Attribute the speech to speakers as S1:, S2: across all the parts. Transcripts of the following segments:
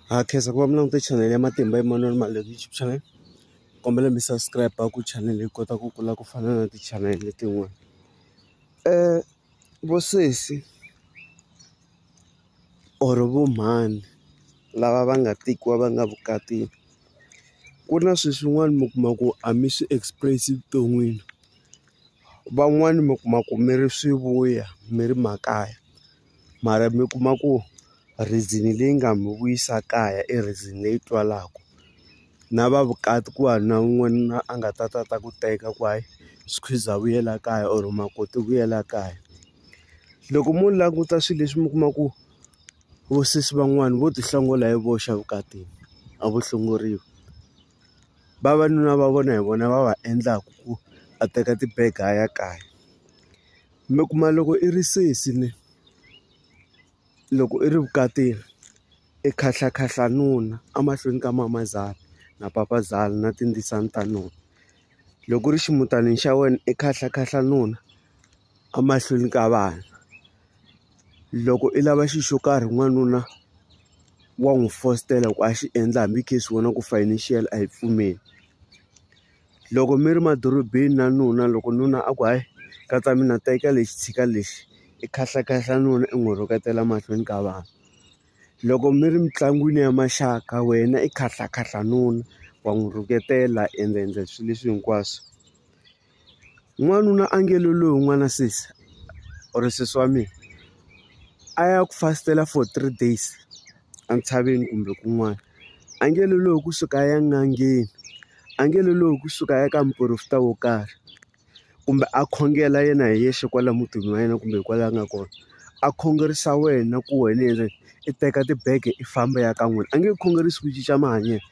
S1: ha khensa ku va mi langute channel ya matimba Emmanuel Maleko YouTube channel kombela mi subscribe ku channel yi kota ku kula ku fana na ti-channel letin'wana um vo sesi or vo mhani lava va nga tekiwa va nga vukatini ku na swilo swin'wana mi kuma ku a mi swi express evuton'wini van'wani mi kuma ku mi ri swivuya mi ri makaya. mara mi kuma ku reason leyi nga mi vuyisa kaya i reason leyi twalaku na va vukati ku va na n'wanuna a nga ta ta ta ku teka ku hayi squeeze a vuyela kaya or makoti vuyela kaya loko mo languta swilo leswi mi kuma ku vo sesi van'wani vo ti hlongola hi voxe evukatini a vo hlongoriwi vavanuna va vona hi vona va va endlaku ku a teka tibege a ya kaya. Mi kuma loko i ri sesi ni loko i ri vukatini i khahla khahla nuna emahlweni ka mamazala na papazala na tindzisana ta nuna loko u ri ximutanini xa wena i khahla khahla nuna emahlweni ka vana loko i lava xi xo karhi n'wanuna wa n'wi fositela ku a xi endla hambi case wena ku financial a yi pfumeli. loko mi ri madorobeni na nuna loko nuna a ku hayi katsa mina teka lexi tshika lexi i khahlakahle nuna i n'wi rhuketela mahlweni ka vanhu loko mi ri mitlangwini ya maxaka wena i khahlakahle nuna wa n'wi rhuketela ende endla swilo leswi hinkwaswo n'wanuna a nge lo loyi n'wana sesi or sesi wa mina a ya ku fastela for three days. entshaveni kumbe kun'wana a nge lolohi kusuka a ya en'angeni a nge lolohi kusuka a ya ka muporofeta wo karhi kumbe a khongela yena hi yexe kwala mutini wa yena kumbe kwala a nga kona a khongerisa wena ku wena yena i teka tibege i famba ya ka n'wina a nge khongerisi ku cinca mahanyelo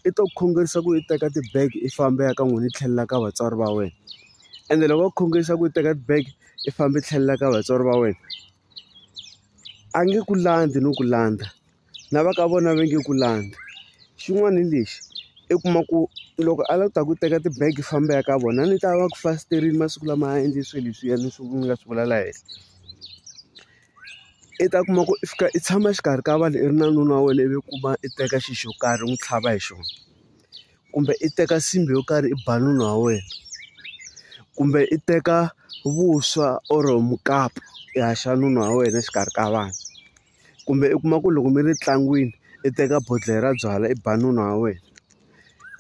S1: i to khongerisa ku i teka tibege i famba ya ka n'wina i tlhelela ka vatswari va wena ende loko va khongerisa ku i teka tibege i famba i tlhelela ka vatswari va wena. a nge ku landzi no ku landza na va ka vona va nge ku landza xin'wana hi lexi i kuma ku loko a lava ku ta ku teka ti-bag i famba i ya ka vona a ni ta va ku fasiteriwini masiku lama a endle swilo leswiya ni swi nga swi vula la henhla i ta kuma ku i fika i tshama exikarhi ka vanhu i ri na nuna wa wena ivi u kuma i teka xi xo karhi u n'wi tlhava hi xona. kumbe i teka nsimbhi yo karhi i ba nuna wa wena kumbe i teka vuswa or mukapu i haxa nuna wa wena exikarhi ka vanhu kumbe i kuma ku loko mi ri ntlangwini i teka bodlhela ra byalwa i ba nuna wa wena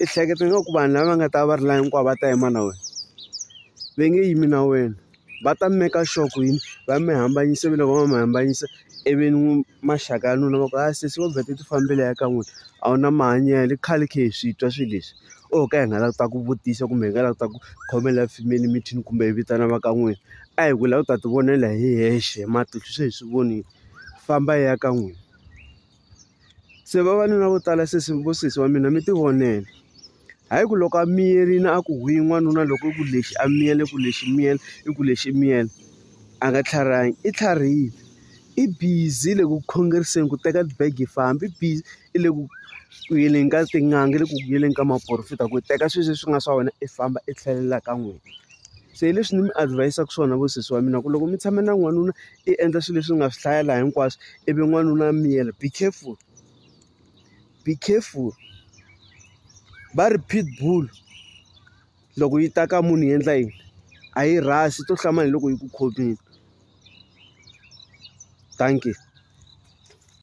S1: i hleketa nga ku vanhu lava nga ta va ri la hinkwavo va ta yima na wena va nge yimi na wena. va ta maker sure ku yini va mi hambanyisa ivi loko va mi hambanyisa ivi maxaka ya n'wina va ku hayi sesi wo vheta u ti fambile ya ka n'wina a wu na mahanyelo i khale hi khe hi swi twa swilo leswi o ho ka hi nga lavi ku ta ku vutisa kumbe hi nga lavi ku ta ku khomela family meeting kumbe hi vitana va ka n'wina a hi ku hi lava ku ta ti vonela hi hexe hi matihlo se hi swi vonile famba ya ka n'wina. Se vavanuna vo tala sesi vo sesi wa mina mi tivonela hayi ku loko a miyerile a ku huhi n'wanuna loko i ku lexi a miyele ku lexi miyele i ku lexi miyele a nga tlharihangi i tlharihile i busy le ku khongeriseni ku teka ti-bag i famba i busy i le ku ku yeleni ka tin'anga le ku yeleni ka maporofeta ku teka swilo leswi nga swa wena i famba i tlhelela ka n'wina se hi leswi ni mi adhivayisaka swona vo sesi wa mina ku loko mi tshame na n'wanuna. i endla swilo leswi nga swi hlayela hinkwaswo i vi n'wanuna miyela be careful be careful va ri pitbull loko yi ta ka munhu yi endla yini a yi rhasi to hlama hi loko yi ku khomile thank you.